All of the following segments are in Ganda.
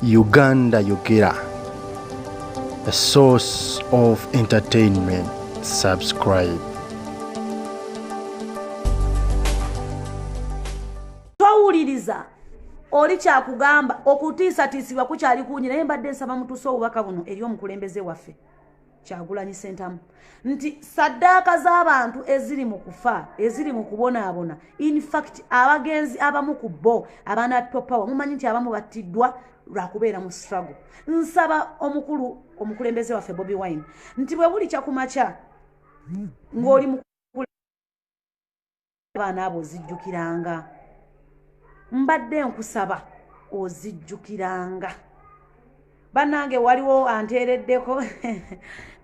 Uganda Yogera, a source of entertainment. Subscribe. Towuliriza oli kyakugamba okutiisatiisibwa kukyali kungi naye mbadde nsaba mutuuse obubaka buno eri omukulembeze waffe kyagulanyi sentamu nti saddaaka z'abantu eziri mu kufa eziri mu kubonaabona infact abagenzi abamu ku bo abaana topawa mumanyi nti abamu battiddwa lwakubeera mu struggle nsaba omukulu omukulembeze waffe bobi wine nti bwe buli kyakumakya ng'oli abaana abo ozijjukiranga mbadde nkusaba ozijjukiranga bannange waliwo anteereddeko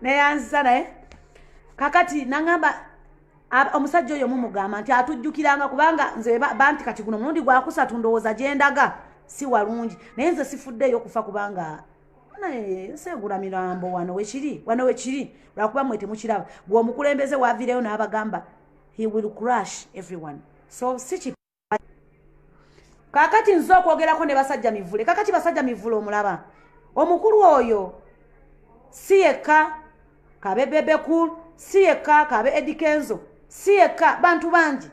neyanziza naye kakati naŋamba omusajja oyo mumugamba nti atujjukiranga kubanga nze banti kati guno mulundi gwakusatu ndowooza gyendaga si walungi naye nze sifuddeeyo okufa kubanga naye segula mirambo wano wekiri wano wekiri lwakuba mwe temukiraba gwe omukulembeze wavireyo n'abagamba he will crush everyone so si kakati nze okwogerako ne basajja mivule kakati basajja mivule omulaba omukulu oyo si yekka kabe bebekul si yekka kabe edikenzo si yekka bantu bangi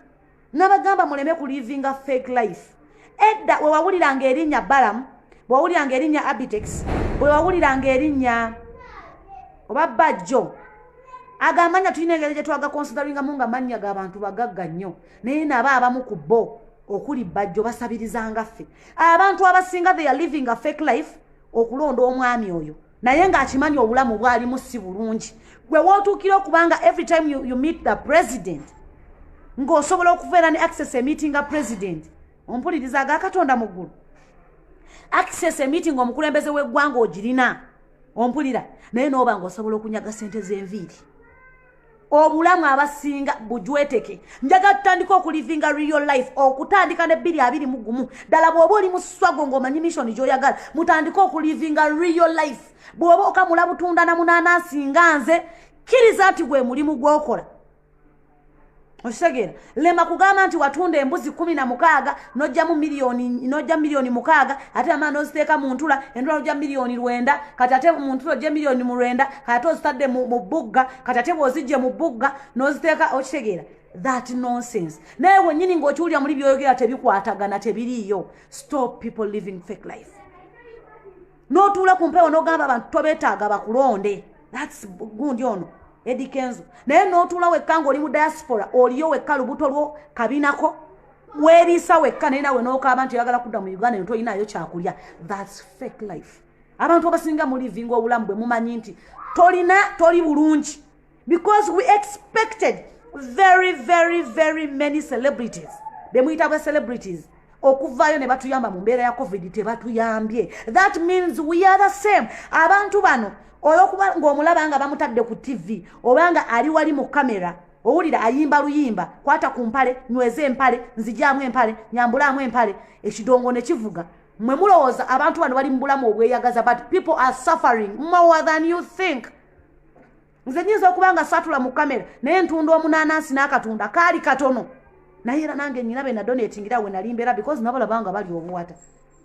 nabagamba muleme kulivinga fake life edda we wawuliranga erinnya balamu bwe wawuliranga erinnya abitex bwe wawuliranga erinnya oba bajjo agamanya tulina engeri gye twagakonsideringamu nga mannya g'abantu bagagga nnyo naye nabo abamu ku bo okuli bajjo basabirizanga ffe abantu abasinga they are living a fake life okulonda omwami oyo naye ng'akimanyi obulamu bwalimu si bulungi gwe wootuukira okubanga every time you, you meet the president ng'osobola okuvaera ne access emeetinga president ompuliriza aga katonda mu ggulu access emeeting omukulembeze w'eggwanga ogirina ompulira naye nooba ng'osobola okunyaga ssente z'enviiri obulamu abasinga bujweteke njaga tutandika okulivinga real life okutandika ne bbiri abiri mu gumu ddala bw'oba oli muswago ng'omanyi missoni gy'oyagala mutandike okulivinga real life bw'oba okamula butunda na munaanansi nga nze kkiriza nti gwe mulimu gw'okola okitegeera lema kugamba nti watunda embuzi kumi na mukaaga nojjamu miliyoni nojja miliyoni mukaaga ate amaa noziteeka mu ntula entula nojja miliyoni lwenda kati ate mu ntula ojje miliyoni mu lwenda kati ate ozitadde mu bbugga kati ate bwozijje mu bbugga noziteeka okitegeera that nonsense naye wenyini ngaokiwulira muli byoyogera tebikwatagana tebiriiyo stop people living fake life notuula ku mpewo nogamba abantu tobetaaga bakulonde thats gundi ono edi kenzo naye notuula wekka ngaoli mu diaspora oliyo wekka lubuto lwo kabinako weriisa wekka naye nawe nokaaba nti oyagala kudda mu uganda eno toyinayo kyakulya thats fake life abantu abasinga mulivinga obulamu bwe mumanyi nti tolina toli bulungi because we expected very very very many celebrities bemuyita bwe celebrities okuvaayo ne batuyamba mu mbeera ya covid tebatuyambye that means we are the same abantu bano olwokuba ngaomulaba nga bamutadde ku tv oba nga ali wali mu kamera owulira ayimba luyimba kwata ku mpale nyweza empale nzijaamu empale nyambulaamu empale ekidongo ne kivuga mwe mulowooza abantu bano bali mu bulamu obweyagaza but people are suffering more than you think nze nyinza okuba nga satula mu kamera naye ntunda omunanansi n'akatunda kaali katono naye era nange nyina be nadonatingira we nali mbeera because nabalabanga bali obuwata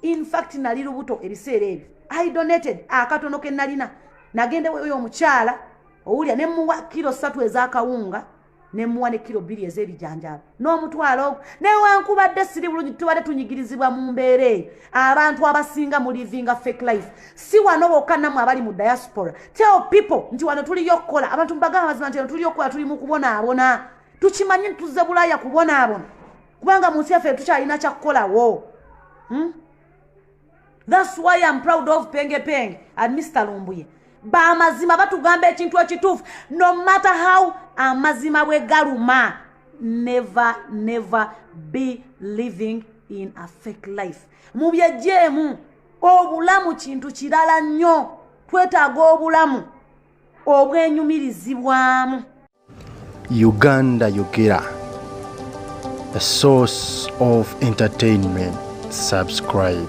infact nali lubuto ebiseera ebyo i donated akatono ke nalina nagenda weyo omukyala owulya ne muwa kiro satu ez'akawunga ne muwa ne kiro bbiri ez'ebijanjaalo n'omutwalo ogwo newankubadde siri bulungi tubadde tunyigirizibwa mu mbeera eyo abantu abasinga mu livinga fake life si wano bokka namu abali mu diaspora tell people nti wano tuliyo okukola abantu mubagamba mazima nti wano tuliyo okukola tuli mu kubonaabona tukimanyi nti tuzze bulaaya kubonaabona kubanga mu nsi yaffe tukyalina kyakukolawo hmm? thats why am proud of penge penge and mr lumbuye bamazima batugamba ekintu ekituufu no matter how amazima bwe galuma never never be living in a fake life mu byejeemu obulamu kintu kirala nnyo twetaaga obulamu obwenyumirizibwamu Uganda Yogera, a source of entertainment. Subscribe.